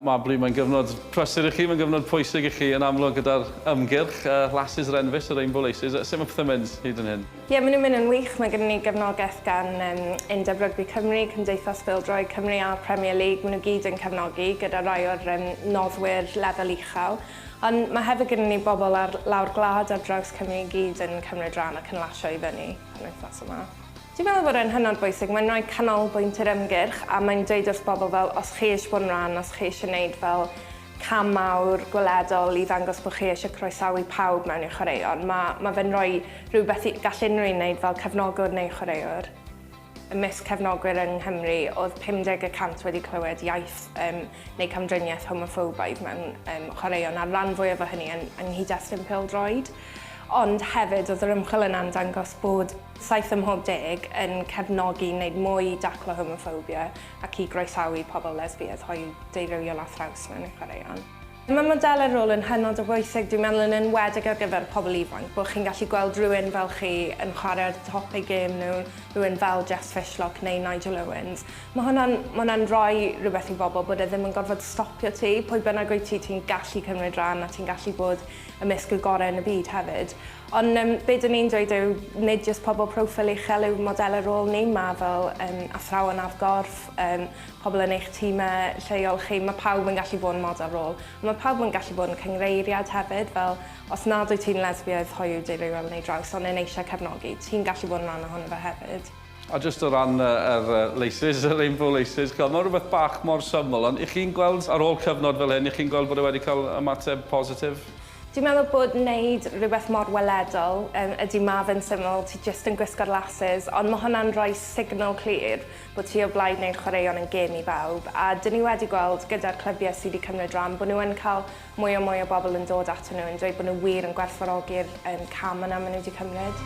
Mae Blue, mae'n gyfnod prysur i chi, mae'n gyfnod pwysig i chi yn amlwg gyda'r ymgyrch, yy Lasses yr Enfys, y Rainbow Laces, yy sut mae pethau'n mynd hyd yn hyn? Ie, maen nhw'n mynd yn wych, mae gyda ni gefnogaeth gan yym Undeb Rygbi Cymru, Cymdeithas Bêl-droed Cymru a'r Premier League, maen nhw gyd yn cefnogi gyda rai o'r yym noddwyr lefel uchel, ond mae hefyd gyda ni bobl ar lawr gwlad ar draws Cymru i gyd yn cymryd rhan ac yn lasio i fyny penwythnos yma. Dwi'n meddwl bod e'n hynod bwysig, mae'n rhoi canolbwynt i'r ymgyrch a mae'n dweud wrth bobl fel os chi eisiau bod yn rhan, os chi eisiau wneud fel cam mawr gweledol i ddangos bod chi eisiau croesawu pawb mewn i'r chwaraeon, mae ma fe'n rhoi rhywbeth i gall unrhyw un wneud fel cefnogwr neu chwaraewr. Ymysg cefnogwyr yng Nghymru, oedd 50 y cant wedi clywed iaith um, neu camdriniaeth homoffobaidd mewn um, chwaraeon, a'r rhan fwyaf o hynny yn, yng nghyd-destun pêl-droed. Ond hefyd, oedd yr ymchwil yna'n dangos bod Saith ym mhob deg yn cefnogi wneud mwy i daclo homoffobia ac i groesawu pobl lesbiaidd, hoyw, deurywiol a thraws mewn ein chwaraeon. Mae modelau rôl yn hynod o bwysig, dwi'n meddwl yn enwedig ar gyfer pobl ifanc, bod chi'n gallu gweld rhywun fel chi yn chwarae ar top eu gêm nhw, rhywun fel Jess Fishlock neu Nigel Owens. Mae hwnna'n, mae hwnna'n rhoi rhywbeth i bobl bod e ddim yn gorfod stopio ti, pwy bynnag wyt ti, ti'n gallu cymryd rhan a ti'n gallu bod ymysg y gorau yn y byd hefyd. Ond yym be dwn i'n dweud yw nid jyst pobl proffil uchel yw modelau rôl ni, mae fel yym athrawon ar gorff, yym pobl yn eich timau lleol chi, mae pawb yn gallu bod yn model rôl. Ond mae pawb yn gallu bod yn cynghreiriad hefyd, fel os nad wyt ti'n lesbiaidd, hoyw, deurywiol neu draws ond yn eisiau cefnogi, ti'n gallu bod yn rhan ohono fe hefyd. A jyst o ran yr laces, y rainbow laces, chimod, mae'n rhywbeth bach mor syml, ond y'ch chi'n gweld ar ôl cyfnod fel hyn, y'ch chi'n gweld bod e wedi cael ymateb positif? Dwi'n meddwl bod wneud rhywbeth mor weledol, yym, ydy ma fe'n syml, ti jyst yn gwisgo'r laces, ond ma hwnna'n rhoi signal clir bod ti o blaid wneud chwaraeon yn gêm i bawb, a 'dyn ni wedi gweld gyda'r clybiau sy 'di cymryd ran bod nhw yn cael mwy a mwy o bobl yn dod atyn nhw yn dweud bod nhw wir yn gwerthfawrogi'r yym cam yna ma nhw 'di cymryd.